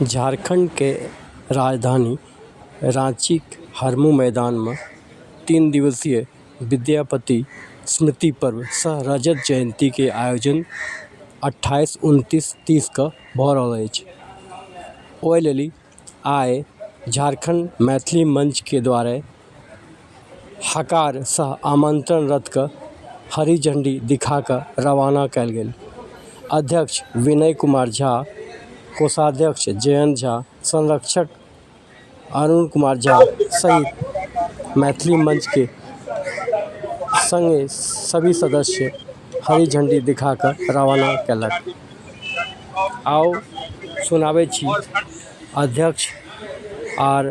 झारखण्डके राजधानी राँचीके हरमू मैदानमे तीन दिवसीय विद्यापति स्मृति पर्व सह रजत जयन्तीके आयोजन अठाइस उनतीस तीसके भऽ रहल अछि ओहि लेल आइ झारखण्ड मैथिली मञ्चके द्वारा हकार सह आमन्त्रण रथके हरी झण्डी देखाकऽ रवाना कएल गेल अध्यक्ष विनय कुमार झा कोषाध्यक्ष जयन्त झा संरक्षक अरुण कुमार झा सहित मैथिली मञ्चके सङ्गे सभी सदस्य हरी झण्डी देखाकऽ रवाना कएलक आउ सुनाबै छी अध्यक्ष आओर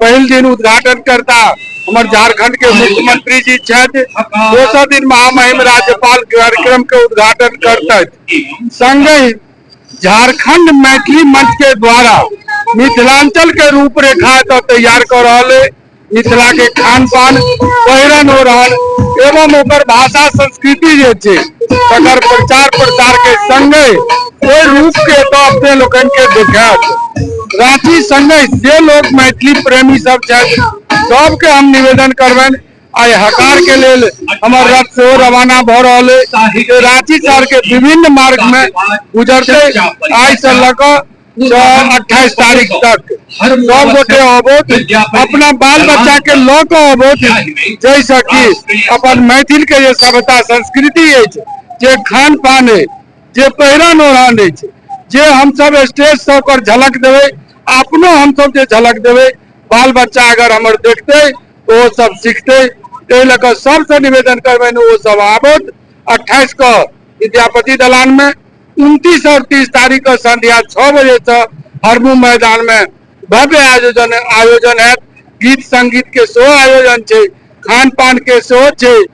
पहिल दिन उद्घाटन करता हमर झारखंड के मुख्यमंत्री जी छथि दोसर दिन महामहिम राज्यपाल कार्यक्रम के उद्घाटन करतथि संगहि झारखंड मैथिली मंच के द्वारा मिथिलांचल के रूपरेखा एतय तैयार कर रहल है मिथिला के खान पान पहिरन हो रहल एवं ओकर भाषा संस्कृति जे छै तकर प्रचार प्रसार के संगे ओहि रूप के एतय अपने लोकन के देखायत राठी संगे जे लोक मैथिली प्रेमी सब छथि सबके हम निवेदन करबनि आइ हकार के लेल हमर रथ से रवाना भ रहल है रांची शहर के विभिन्न मार्ग में गुजरते आइ से लऽ कऽ अट्ठाईस तारीख तक सब गोटे अबोध अपना बाल बच्चा के लऽ कऽ अबोध जैसे कि अपन मैथिल के जे सभ्यता संस्कृति अछि जे खान पान अछि जे पहिरन ओढ़न नहि छै जे हमसभ स्टेज सब पर झलक देबै अपनो हमसभ जे झलक देबै बाल बच्चा अगर हमर देखतै तऽ ओ सब सीखतै ताहि लऽ कऽ सबसँ निवेदन करबनि ओ सब आबत अट्ठाइस के विद्यापति दलान में उनतीस और तीस तारीख के संध्या छओ बजे से हरमू मैदान में भव्य आयोजन आयोजन हैत गीत संगीत के सेहो आयोजन छै खान पान के सेहो छै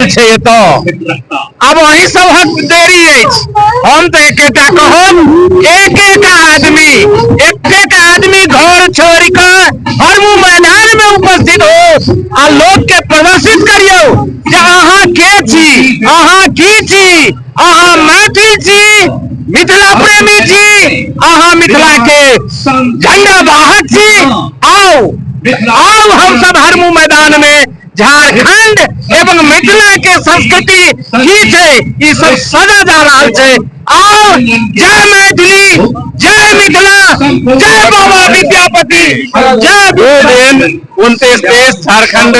छै एतऽ आब अही सबहक देरी अछि हम तऽ एकेटा कहब एक एक आदमी एक एक आदमी घर छोड़ कऽ हर मैदान में उपस्थित हो आ लोग के प्रदर्शित करियो जे अहाँ के छी अहाँ की छी अहाँ मैथिल छी मिथिला प्रेमी छी अहाँ मिथिला के झंडा वाहक छी आओ आओ हम सब हरमू मैदान में झारखंड एवं मिथिला के संस्कृति की छै ई सब सजा जा रहल छै और जय मैथिली जय मिथिला जय बाबा विद्यापति जय दो दिन उनतीस तीस झारखंड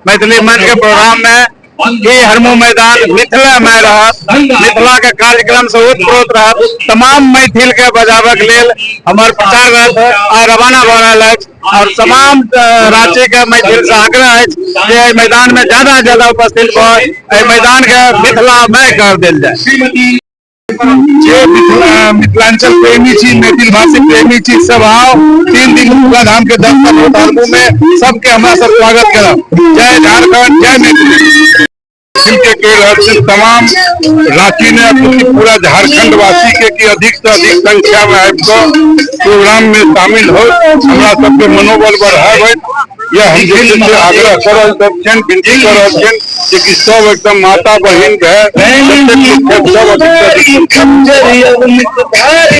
मैथिली मंच के प्रोग्राम में ई हरमो मैदान मिथिला में रहत मिथिला के कार्यक्रम से उत्प्रोत रहत तमाम मैथिल के बजाबक लेल हमर प्रचार रहत आ रवाना भऽ रहल अछि और तमाम राज्य के मैथिल से आग्रह है जे एहि मैदान में ज्यादा ज्यादा उपस्थित भऽ मैदान के मिथिला मय कर दिल जाए जे मिथिलांचल प्रेमी छी मैथिल भाषी प्रेमी छी सब आओ तीन दिन दुर्गा धाम के दर्शन होत हरमू में सबके हमारा सब स्वागत करब जय झारखंड जय मैथिली फिल्म के कह रहल छी तमाम रांची ने अथी पूरा झारखंड वासी के कि अधिक से अधिक संख्या में आबि कऽ प्रोग्राम में शामिल हो हमरा सबके मनोबल बढ़ाबै यह हम जे छै से आग्रह कर रहल सब छियनि विनती कर रहल छियनि जे कि सब एकदम माता बहिन भए जतेक लोक छथि, सब अधिक से अधिक संख्या में